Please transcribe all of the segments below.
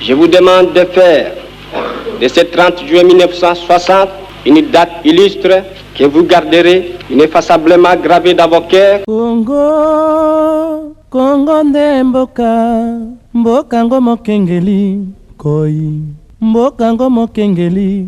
Je vous demande de faire de ce 30 juin 1960 une date illustre que vous garderez ineffaçablement gravee dans vos coeurs. Congo, Congo nde mboka, mboka ngo mokengeli, koi, mboka ngo mokengeli.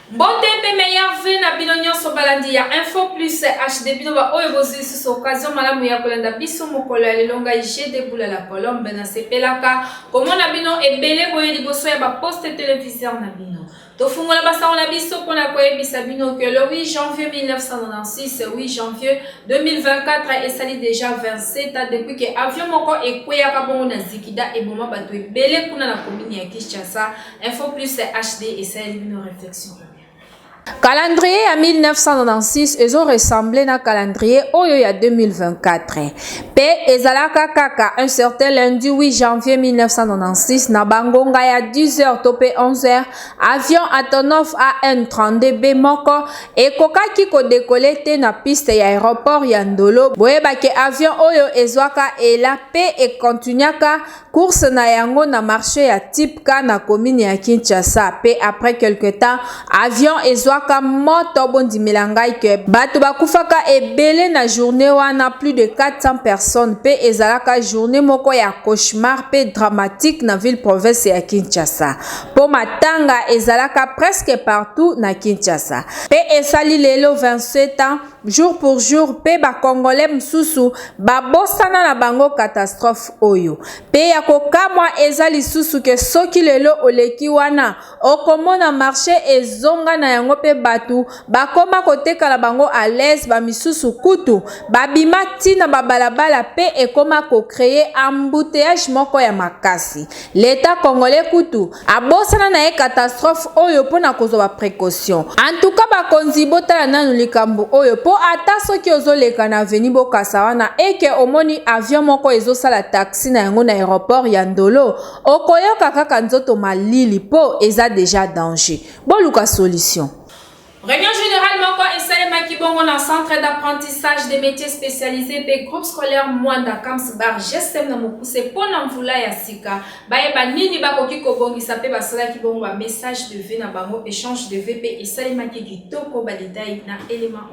Mbote pe meilleur vœux na bino nionso balandi ya Info Plus HD bino ba oyo bozui lisusu occasion malamu ya kolanda biso mokolo ya lelo ngai je deboula la colombe na sepelaka komona bino ebele boye liboso ya ba poste televiseur na bino tofungola basango na biso mpo na koyebisa bino ke le 8 janvier 1996 8 janvier 2024 esali deja 27 ans depuis ke avion moko ekweyaka bongo na zikida eboma bato ebele kuna na komini ya kinshasa Info Plus HD esaleli bino reflexion calendrier ya 1996 ezo ressemble na calendrier oyo ya 2024 mpe ezalaka kaka un certain lundi 8 janvier 1996 na bangonga ya 10h to mpe 11h avion atonov an 32b moko ekokaki kodekole te na piste ya aéroport ya ndolo boyebake avion oyo ezwaka ela mpe ekontinuaka Course na yango na marche ya Tipka na commune ya Kinshasa pe après quelque temps avion ezwaka moto bondimela ngai que bato bakufaka ebele na journée wana plus de 400 personnes pe ezalaka journée moko ya cauchemar pe dramatique na ville province ya Kinshasa po matanga ezalaka presque partout na Kinshasa pe esali lelo 27 ans jour pour jour pe ba congolais mususu ba bosana na bango catastrophe oyo pe ya kokamwa eza lisusu ke soki lelo oleki wana okomona marche ezonga na yango pe batu bakoma koteka na bango à l'aise ba misusu kutu babima ti na ba balabala pe ekoma ko creer embouteillage moko ya makasi L'etat congolais kutu abosana na ye catastrophe oyo mpo na kozwa ba precaution. En tout cas bakonzi botala nanu likambo oyo mpo ata soki ozoleka na avenue Bokassa wana et que omoni avion moko ezosala taxi na yango na aeroport ya Ndolo okoyoka kaka nzoto malili mpo eza dejà danger. Boluka solution. Reunion generale moko esalemaki bongo na Centre d'apprentissage des métiers spécialisés mpe groupe scolaire Mwanda Kams Bar GSM na mokuse mpo na mvula ya sika bayeba nini bakoki kobongisa mpe basalaki bongo ba message de vie na bango échange de vie mpe esalemaki kitoko badetail na element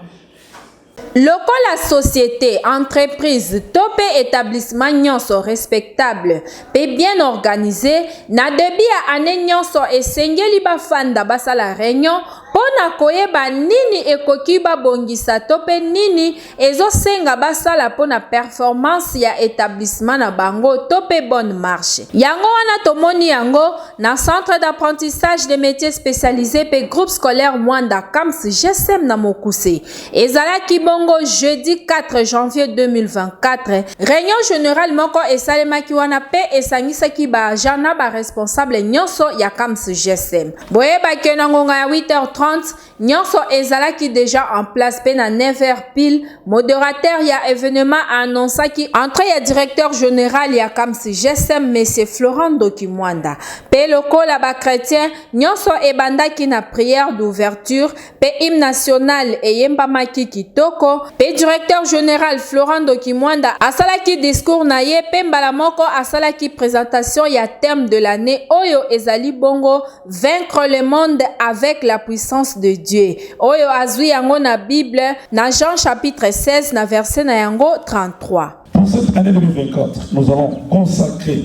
Lokola societe, entreprise to pe etablissement nionso respectable pe bien organise, na debut ya annee nionso esengeli bafanda basala reunion po na koyeba nini ekoki babongisa to pe nini ezosenga basala po na performance ya etablissement na bango to pe bonne marche. Yango wana tomoni yango na Centre d'apprentissage des metiers specialises pe Groupe scolaire Muanda Camps, GSM, na mokuse. Ezalaki bongo jeudi 4 janvier 2024, reunion generale moko esalemaki wana pe esangisaki ba agents na ba responsables nyonso ya CAMS GSM. Boyeba que na ngonga ya 8h30, nyonso ezalaki deja en place pe na 9h pile, moderateur ya evenement a annoncaki entree ya directeur general ya CAMS GSM Monsieur Florent Ndoki Mwanda. Pe lokola ba chretiens, nyonso ebandaki na prière d'ouverture, mpe hymne national eyembamaki kitoko mpe directeur general Florent Ndoki Mwanda asalaki discours na ye mpe mbala moko asalaki presentation ya thème de l'année oyo ezali bongo vaincre le monde avec la puissance de Dieu oyo azwi yango na Bible na Jean chapitre 16 na verset na yango 33. Pour cette année 2024, nous allons consacrer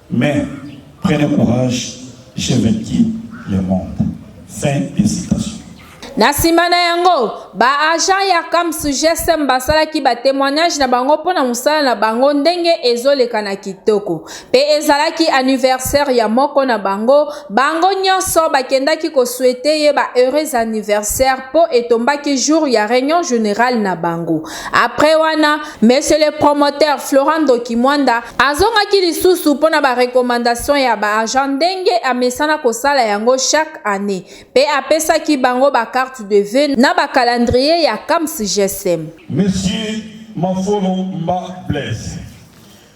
Mais prenez courage je vais kin le monde fin de citation. Na nsima na yango, ba agents ya CAMS GSM basalaki ba temoignages na bango mpo na mosala na bango ndenge ezoleka na kitoko. Mpe ezalaki anniversaire ya moko na bango, bango nyonso bakendaki ko souhaiter ye ba heureux anniversaires mpo etombaki jour ya reunion generale na bango. Après wana, monsieur le promoteur Florent Ndoki Mwanda azongaki lisusu mpo na ba recommandations ya ba agents ndenge amesana kosala yango chaque année mpe apesaki bango ba carte de vœux na ba calendrier ya CAMS GSM. Monsieur Mafolo Mba Blaise,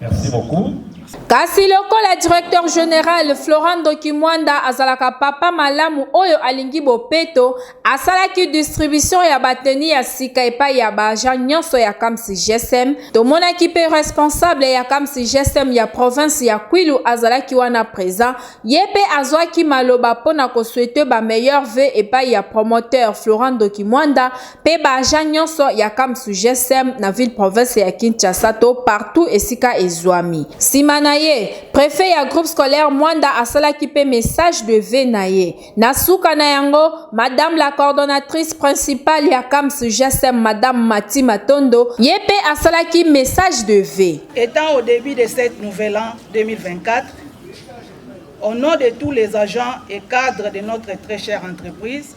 Merci beaucoup. Kasi lokola directeur general Florent Dokimwanda azalaka papa malamu oyo alingi bopeto, asalaki distribution ya bateni ya sika epai ya baagent nyonso ya Kamsi GSM. Tomonaki mpe responsable ya Kamsi GSM ya province ya Kwilu azalaki wana present, ye mpe azwaki maloba mpo na koswete ba meilleurs vœux epai ya promoteur Florent Dokimwanda pe ba agent nyonso ya Kamsu GSM na ville province ya Kinshasa to partout esika ezwami. Sima na ye, prefet ya groupe scolaire Mwanda asalaki pe message de vœux na ye. Na suka na yango, madame la coordonnatrice principale ya Kamsu GSM madame Mathy Matondo, ye pe asalaki message de vœux. Etant au debut de cette nouvel an 2024, au nom de tous les agents et cadres de notre très chère entreprise,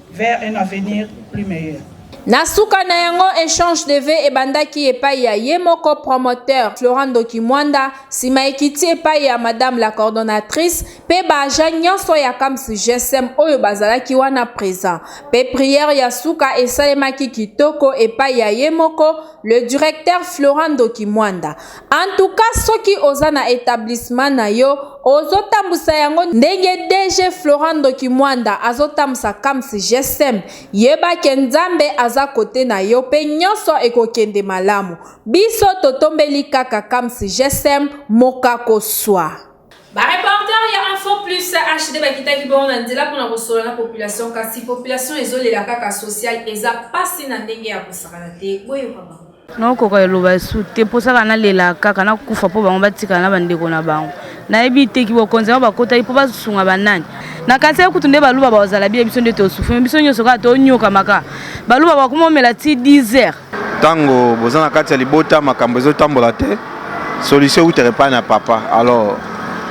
vers un avenir plus meilleur. Na suka na yango echange de vue ebandaki epai ya ye moko promoteur Florent Ndoki Mwanda, nsima ekiti epai ya madame la coordonnatrice mpe ba agents nyonso ya CAMS GSM oyo bazalaki wana present. Mpe prière ya suka esalemaki kitoko epai ya ye moko le directeur Florent Ndoki Mwanda. En tout cas soki oza na etablissement na yo ozo tambusa yango ndenge DG Florent Ndoki Mwanda azo tambusa Kams GSM yeba ke Nzambe aza kote na yo pe nyonso ekokende malamu biso totombeli kaka Kams GSM mokako swa. Ba reporter ya Info Plus HD bakitaki bongo na nzela mpo na kosolola na population kasi population ezolela kaka social eza pasi na ndenge ya kosakana te boyoka bango. nakokoka eloba esu te mposaka nalela kaka nakufa mpo bango batikala na bandeko na bango nayebi te kibokonzi yango bakotaki mpo basunga banani na kanisa kutu nde baluba bakozala bie biso nde tosufumi biso nyonso kaka tonyokamaka baluba bakomomela ti 10 heures Tango boza na kati ya libota makambo ezo tambola te solution eutere epai na papa alors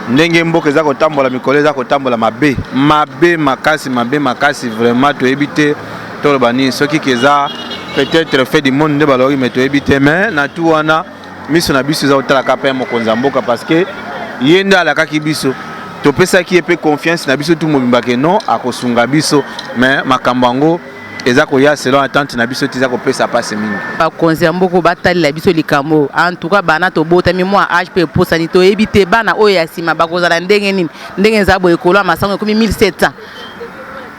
ndenge mboka eza kotambola mikolo eza kotambola mabe mabe makasi mabe makasi vraiment toyebi te toloba nini soki keza peut-être fait du monde nde baloki me toyebi te mais na tout wana miso na biso eza kotalaka mpe mokonzi ya mboka parce que ye nde alakaki biso topesaki ye mpe confiance na biso tu mobimba ke non akosunga biso mais makambo yango eza koya selon attente na biso ti eza kopesa mpasi mingi bakonzi ya mboka batalela biso likambo oyo en tout cas bana tobotami mwa age mpe eposani toyebi te bana oyo ya nsima bakozala ndenge nini ndenge eza boye ekolo ya masango ekomi 1700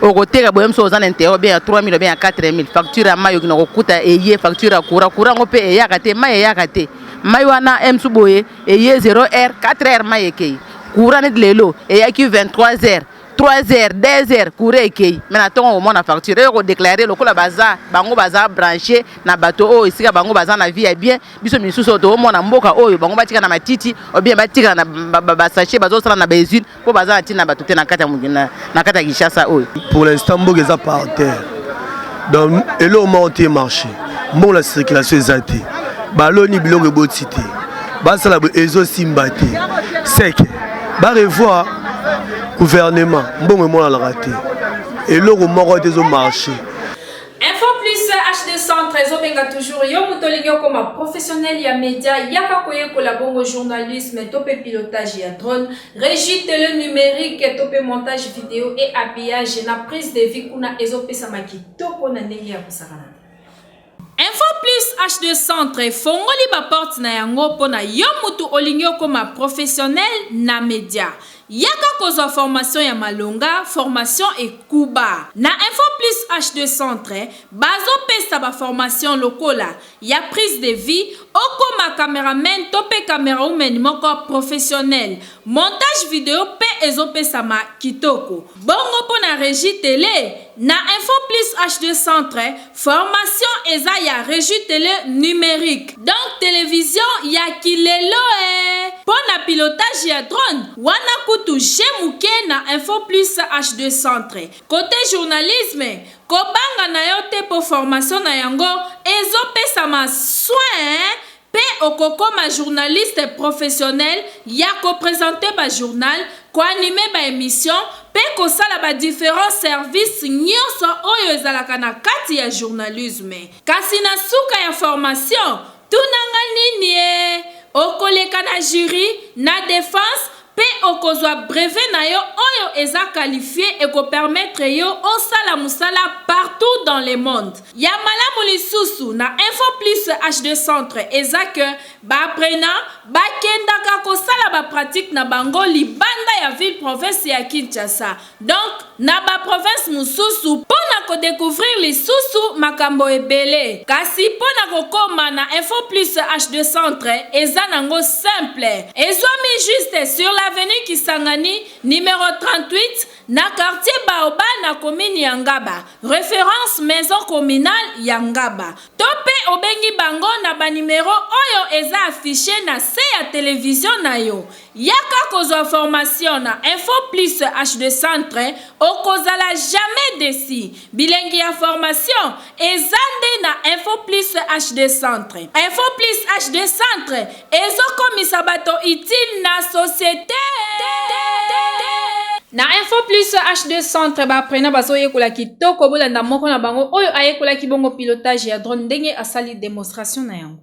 okoteka boye mosusu oza na interet obien ya 3000 obien ya 4000 facture ya mai okina kokuta eye facture ya courant courant yango mpe eyaka te mai eyaka te mai wana msu boye eye 0 heure 4 heure mai ekei courant neti lelo eyaki 23 heures 3 heures 2 heures courant ekei me na ntongo komona facture eye kodeklare lokola baza bango baza branche na bato oyo esika bango baza na vie ya bien biso misusu oyo toomona mboka oyo bango batika na matiti obien batika na basache bazosala na bausine mpo baza na ntina na bato te na kati ya kinshasa oyo pour l'instant mboka eza par terre donc eloko moko te marché mbongo na circulation eza te baloni biloko eboti te basala boye ezosimba te seke barevoir gouvernement mbongo emonanaka te eloko moko te ezomarche info plus hd centre ezobenga toujours yo moto olingi okoma professionnel ya média yaka koyekola bongo journalisme to mpe pilotage ya drone Regie tele numerique to pe montage video et habillage na prise de vie kuna ezopesama kitoko na ndenge ya kosakana. Info Plus HD Centre efongoli baporte na yango mpo na yo moto olingi okoma professionnel na media. Yaka kozwa formation ya malonga, formation ekuba. Na Info Plus HD Centre bazopesa baformation lokola ya prise de vie okoma cameraman to pe camera woman moko professionnel montage video pe ezo pesama kitoko bongo pona regie tele na info plus HD centre formation eza ya regie tele numerique donc television ya ki lelo ee pona pilotage ya drone wana kutu je muke na info plus HD centre cote journalisme Kobanga na yo te po formation na yango ezo pesama soin pe okokoma journaliste professionnel ya ko presenter ba journal, ko animer ba emissions pe kosala ba differents services nionso oyo ezalaka na kati ya journalisme. Kasi na suka ya formation, Tuna nga nini eh? Okoleka na jury, na defense, mpe okozwa brevet na yo oyo eza qualifie eko permettre yo osala musala partout dans le monde. Ya malamu lisusu na Info Plus HD Centre eza que ba apprenants bakendaka kosala ba pratiques na bango libanda ya ville-province ya Kinshasa. Donc na ba provinces mosusu mpo na ko decouvrir lisusu makambo ebele. Kasi mpo na kokoma na Info Plus HD Centre eza nango simple. Ezwami juste sur l'avenue Kisangani numero 38 na quartier Baobab na commune ya Ngaba, reference maison communale ya Ngaba. To mpe obengi bango na ba numeros oyo eza affiches na se ya television na yo. Yaka kozwa formation na info plus HD centre okozala jamais deçu bilengi ya formation eza nde na info plus HD centre info plus HD centre ezo komisa bato utile na societe. Na info plus HD centre ba apprenants bazo yekola kitoko bolanda moko na bango oyo ayekolaki bongo pilotage ya drone ndenge asali demonstration na yango.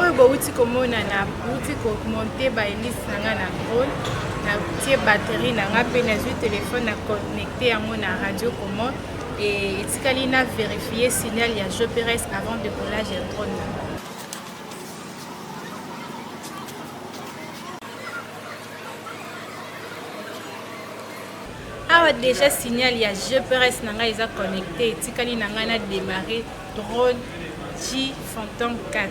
oyo bowuti komona na bowuti komonte baelise na ngai na role natie batterie na ngai mpe nazwi telefone na connecte yango na radio comment etikali na verifie signal ya joperes avant decollage ya drone na ngai awa déjà signal ya gprs na ngai eza connecté etikali na ngai na démarré drone g phantom 4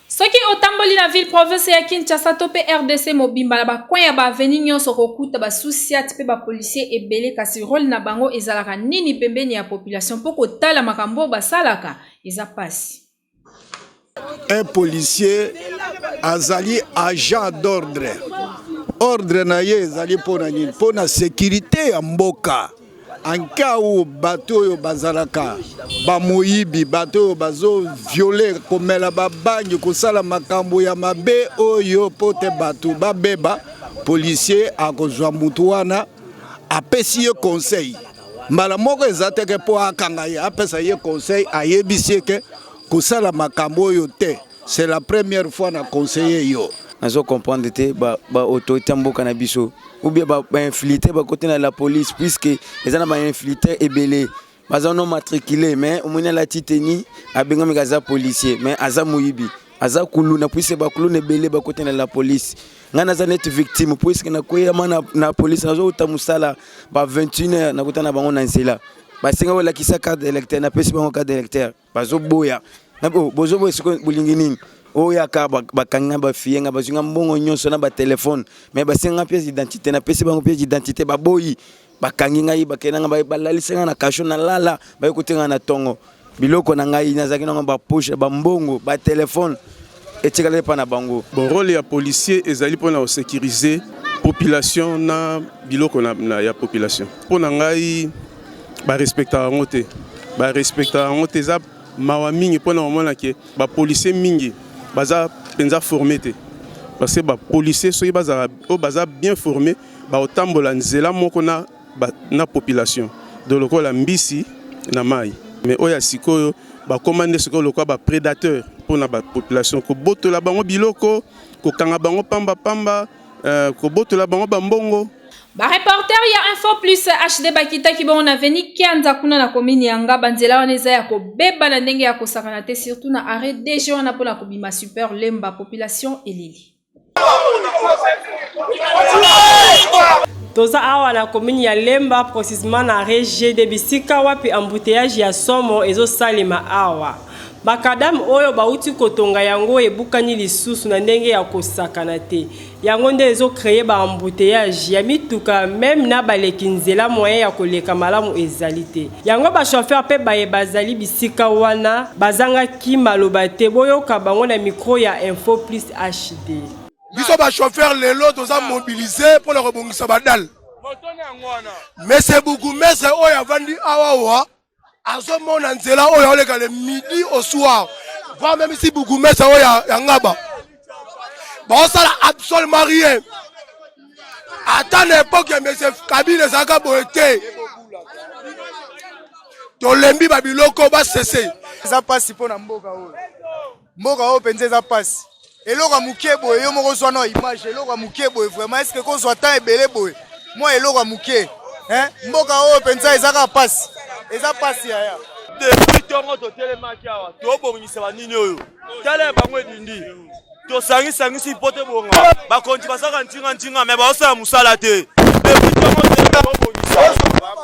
Soki otamboli na ville province ya Kinshasa to pe RDC mobimba na ba coin ya ba avenue nionso okokuta ba sous siat pe ba policiers ebele kasi role na bango ezalaka nini pembeni ya population po kotala makambo oyo basalaka eza pasi. Un policier azali agent d'ordre. Ordre na ye ezali mpo na nini? Mpo na securite ya mboka. en cas où bato oyo bazalaka bamoyibi bato oyo bazoviole komela babangi kosala makambo ya mabe oyo mpo te bato babeba policier akozwa motu wana apesi ye conseil mbala moko eza teke mpo akanga ye apesa ye conseil ayebisi ye ke kosala makambo oyo te C'est la première fois na conseiller yo. Nazo comprendre te ba ba autorité mboka na biso ou bien ba, ba infiltré ba côté na la police puisque eza na ba infiltré ebele baza non matriculé mais omoni alati teni abengami kaza policier mais aza moyibi aza kuluna puisque ba kuluna ebele ba côté na la police ngai naza neti victime puisque nakweyama na, na police nazouta mosala ba 21 heure nakuta na bango na nzela basenga kolakisa carte électeur napesi bango carte électeur bazoboya bozoboya siko bolingi nini oyaka bakangi nga bafiye nga bazwi nga mbongo nyonso na batelefone me basenga nga pièce d'identité napesi bango pièce d'identité baboyi bakangi ngai bakenda nga balalisi nga na kasho nalala baye kotenga na ntongo biloko na ngai nazalaki nango bapoche bambongo batelefone etikali epai na bango. Bon, role ya policier ezali mpona kosekirize population na biloko na, na, ya population. Mpo na ngai barespectaka yango te, barespectaka yango te. Eza mawa mingi mpona komona ke bapolisier mingi baza mpenza forme te parce que bapolisier soki bazala oyo baza bien forme bakotambola nzela moko na ba, na population do lokola mbisi na mayi mais oyo ya sikoyo bakoma nde sikoyo lokola ba predateur mpo na ba population kobotola bango biloko kokanga bango pamba pamba euh, kobotola bango bambongo Ba reporter ya Info Plus HD bakitaki bongo na veni Kianza kuna na commune ya Ngaba nzela wana eza ya kobeba na ndenge ya kosakana te surtout na arrêt DG wana pona kobima super lemba population elili. toza awa na commune ya lemba precisement na regie de bisika wapi embouteillage ya somo ezosalema awa makadame oyo bauti kotonga yango ebukani lisusu na ndenge ya kosakana te yango nde ezokreye baembouteillage ya mituka meme na baleki nzela moyen ya koleka malamu ezali te yango bashofeur mpe baye bazali bisika wana bazangaki ki maloba te boyoka bango na micro ya info plus HD. Biso ba chauffeur lelo toza mobilise mpo na kobongisa badale mese bougumestre oyo avandi awawa azomona nzela oyo aoleka le midi au soir voire meme si bougumestre oyo ya ngaba baosala absolument rien ata na epoke ya monsieur kabila ezalaka boye te tolembi babiloko basese eza mpasi mpo na mboka oyo mboka oyo mpenza eza mpasi eloko ya moke boye yo moko ozwa na image eloko ya moke boye vraiment eske kozwa temps ebele boye mwa eloko ya moke mboka oyo mpenza eza kaka mpasi eza mpasi yaya depuis ntongo totelemaki awa tobongisa banini oyo tala ya bango edindi tosangisangisi mpo te bonga bakonzi basaka ntingantinga me baosala mosala te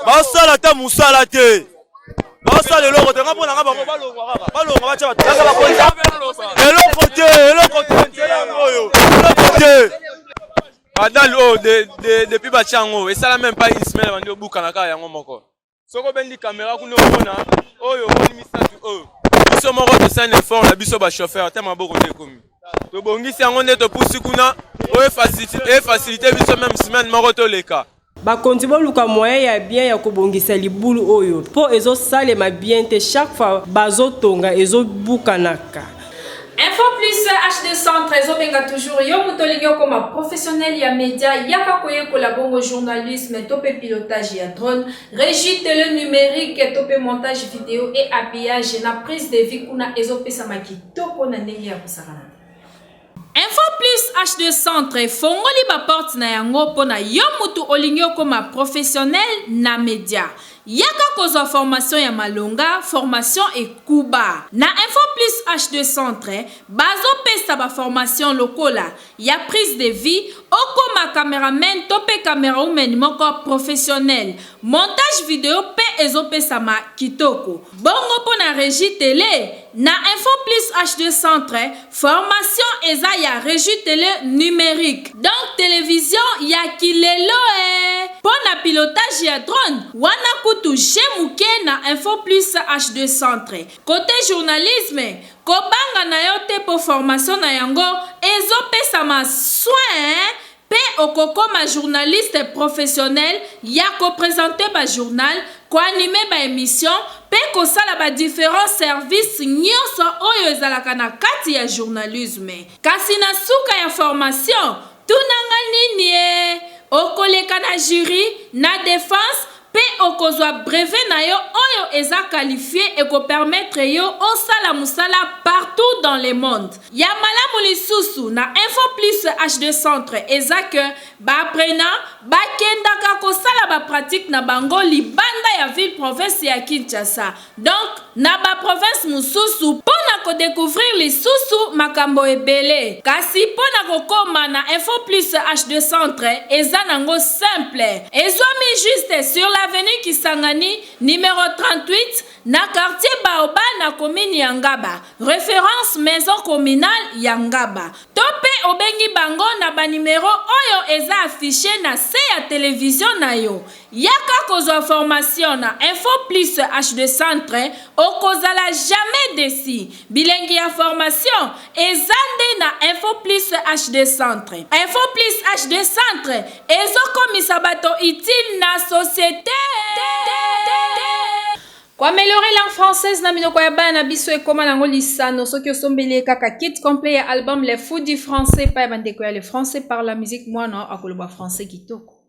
baosala ata mosala te baosala eloko te nga mpo na nga bango balongwa kaka balongwa batya bato eloko te eloko te nzela yango oyo eloko te badale oyo depuis batya yango esala meme pas une semaine bandi obukana kaka yango moko soko obendi kamera kuna omona oyo omoni misato oyo biso moko tosali na effort na biso bachauffeur te maboko nde ekomi tobongisi yango nde topusi kuna oyo efasilite biso meme semaine moko toleka bakonzi boluka moyen ya bien ya kobongisa libulu oyo mpo ezosalema bien te chaque fois bazotonga ezobukanaka Info plus HD centre ezobenga toujours yo moto olingi okoma professionnel ya media yaka koyekola bongo journalisme to mpe pilotage ya drone régie tele numérique to mpe montage video et habillage na prise de vie kuna ezopesama kitoko na ndenge ya kosakana info plus h2 centre efongoli baporte na yango mpo na yo moto olingi okoma professionnel na media Yaka kozwa formation ya malonga, formation ekuba. Na Info Plus HD Centre, bazo pesa ba formation lokola, ya prise de vue, okoma cameraman to pe camerawoman moko professionnel. Montage video pe ezo pesama kitoko. Bongo pona regie tele? Na info plus HD centre formation eza ya regie tele numerique donc television ya ki leloee po na pilotage ya drone wana kutu jeu muke na info plus HD centre cote journalisme ko banga na yo te po formation na yango ezo pesama soins Pe okokoma journaliste professionnel ya ko presenter ba journal, ko animer ba emissions pe kosala ba differents services nionso oyo ezalaka na kati ya journalisme. Kasi na suka ya formation, tuna nga niniee, okoleka na jury, na defense, Pe okozwa brevet na yo oyo eza qualifie e ko permettre yo osala musala partout dans le monde. Ya malamu lisusu na Info Plus HD Centre eza que ba apprenants ba kendaka kosala ba pratiques na bango libanda ya ville-province ya Kinshasa. Donc na ba provinces mosusu mpo na ko decouvrir lisusu makambo ebele. Kasi mpo na kokoma na Info Plus HD Centre eza nango simple. Ezwami juste sur l'avenue Kisangani numero 38 na quartier Baobab na commune ya Ngaba, reference maison communale ya Ngaba. To mpe obengi bango na ba numeros oyo eza affiches na se ya television na yo. Yaka kozwa formation na info plus HD centre okozala jamais deçu bilengi ya formation eza nde na info plus HD centre info plus HD centre ezo komisa bato utile na societe. Ko ameliorer langue française na minoko ya bana na biso ekoma nango lisano soki osombeli ye kaka kit complet ya album Les Fous du Français epai ya bandeko ya Le Français Parle La Musique muana akoloba français kitoko.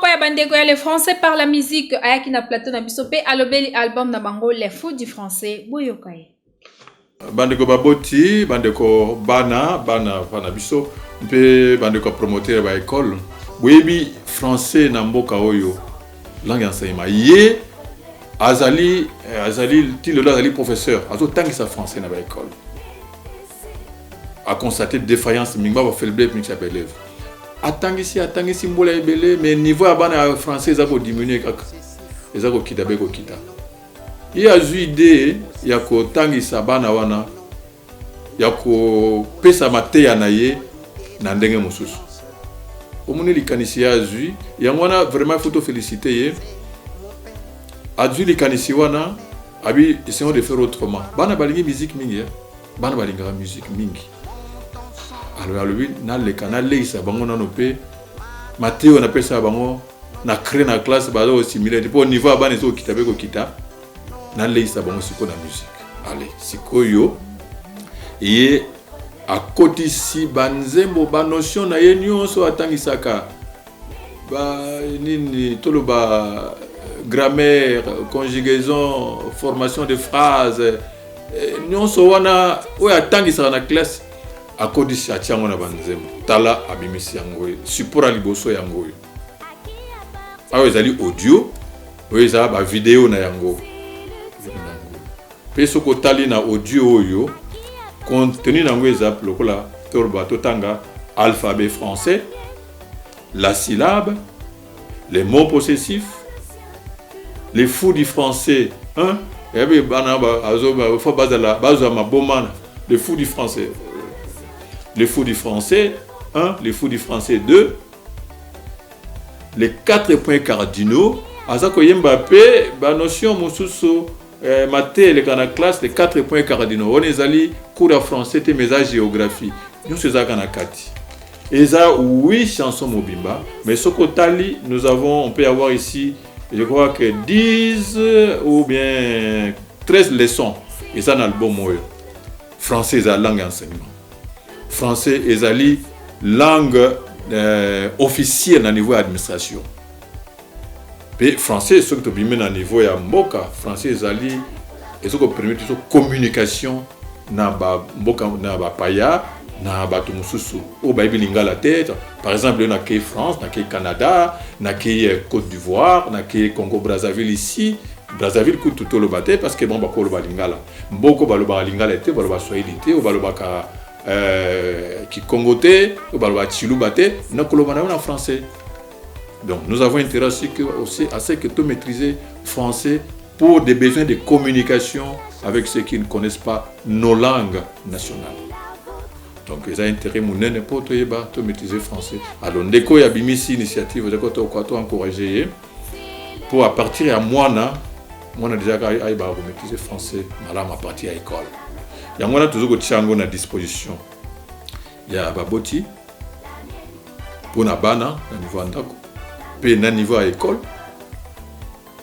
moko ya bandeko ya le français par la musique ayaki na plateau na biso mpe alobeli album na bango le fou du français boyoka ye bandeko baboti bandeko bana bana bana biso mpe bandeko ya promoteur ya baekole boyebi français na mboka oyo langue ya enseignement ye azali eh, azali ti lelo azali professeur azotangisa français na baekole aconstate défaillance mingi baba faible mix ya baelève atangisi atangisi mbula ebele mais niveau ya bana ya français eza kodiminue kaka eza kokita be kokita ye azwi idee ya kotangisa bana wana ya kopesa mateya na ye na ndenge mosusu omoni likanisi ye azwi yango wana vraiment ifo tofelicite ye azwi likanisi wana abi essayons de faire autrement bana balingi musique mingi eh? bana balingaka musique mingi alors alobi naleka naleisa bango nano mpe mateyo napesa bango na cree na classe baza kosimile te mpo niveau ya bana ezokokita mpe kokita naleisa bango sikoyo na musique ale sikoyo ye akotisi banzembo banotion na ye nyonso atangisaka ba nini toloba grammaire conjugaison formation de phrase eh, nyonso wana oyo atangisaka na classe akodisi atia yango na banzembo tala abimisi yango oyo support ya liboso yango oyo awa ezali audio oyo eza ba video na yango mpe soki otali na audio oyo contenu na yango eza lokola toloba totanga alphabet français la syllabe les mots possessifs les fous du français hein? eyabi eh bana faut bazala bazwa maboma les fous du français les fous du français 1 les fous du français 2 Les quatre points cardinaux aza koyemba pe ba notion mosusu eh, mate eleka na classe les quatre points cardinaux wana ezali cours ya français te mais eza géographie nyonso ezalaka na kati eza oui chanson mobimba mais soki otali nous avons on peut avoir ici je crois que 10 ou bien 13 leçons eza na album oyo français eza langue ya enseignement français ezali langue euh, officielle na niveau ya administration mpe français soki tobimi na niveau ya mboka français ezali ezo kopermettre biso communication na bamboka na bapaya na bato mosusu oyo bayebi lingala te par exemple yo nakei france nakei canada nakei euh, côte d'ivoire nakei congo brazzaville ici brazzaville kutu toloba te parce que bango bakoloba lingala Mboko balobaka lingala te, balobaka swahili te, oyo balobaka euh, kikongo te, oyo balobaka tshiluba te, na koloba na yo na français. Donc nous avons intérêt aussi que, aussi, à ce que tu maîtrises français pour des besoins de communication avec ceux qui ne connaissent pas nos langues nationales. donc eza intérêt monene mpo toyeba to maîtrise français alors ndeko oyo abimisi initiative eza kotokoka to encourage ye Pour à partir ya mwana mwana deja ayebaka komaîtrise français malamu à partir ya école yango wana tozo kotia yango na disposition ya baboti mpo na bana na niveau ya ndako mpe na niveau ya école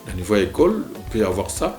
na niveau ya école on peut avoir ça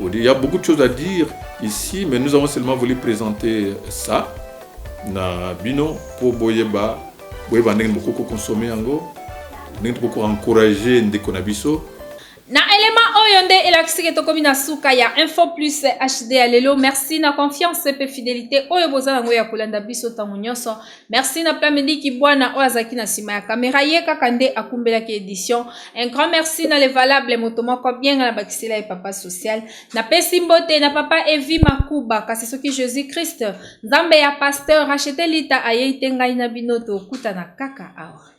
Il y a beaucoup de choses à dire ici, mais nous avons seulement voulu présenter ça na bino pour boyeba boyeba ndenge bokoko consommer yango ndenge tokoko encourager ndeko na biso na elema oyo nde elakisi ke tokomi na suka ya info plus hd ya lelo merci na confiance mpe fidelité oyo boza yango ya kolanda biso ntango nyonso Merci na pla midi kibwana oyo azalaki na nsima ya kamera ye kaka nde akumbelaki edition un grand merci na levalable moto moko abienga na bakisela ye papa social napesi mbote na papa evi makuba kasi soki jésus christ nzambe ya pasteur rachete lita ayei te ngai na bino tokutana kaka awa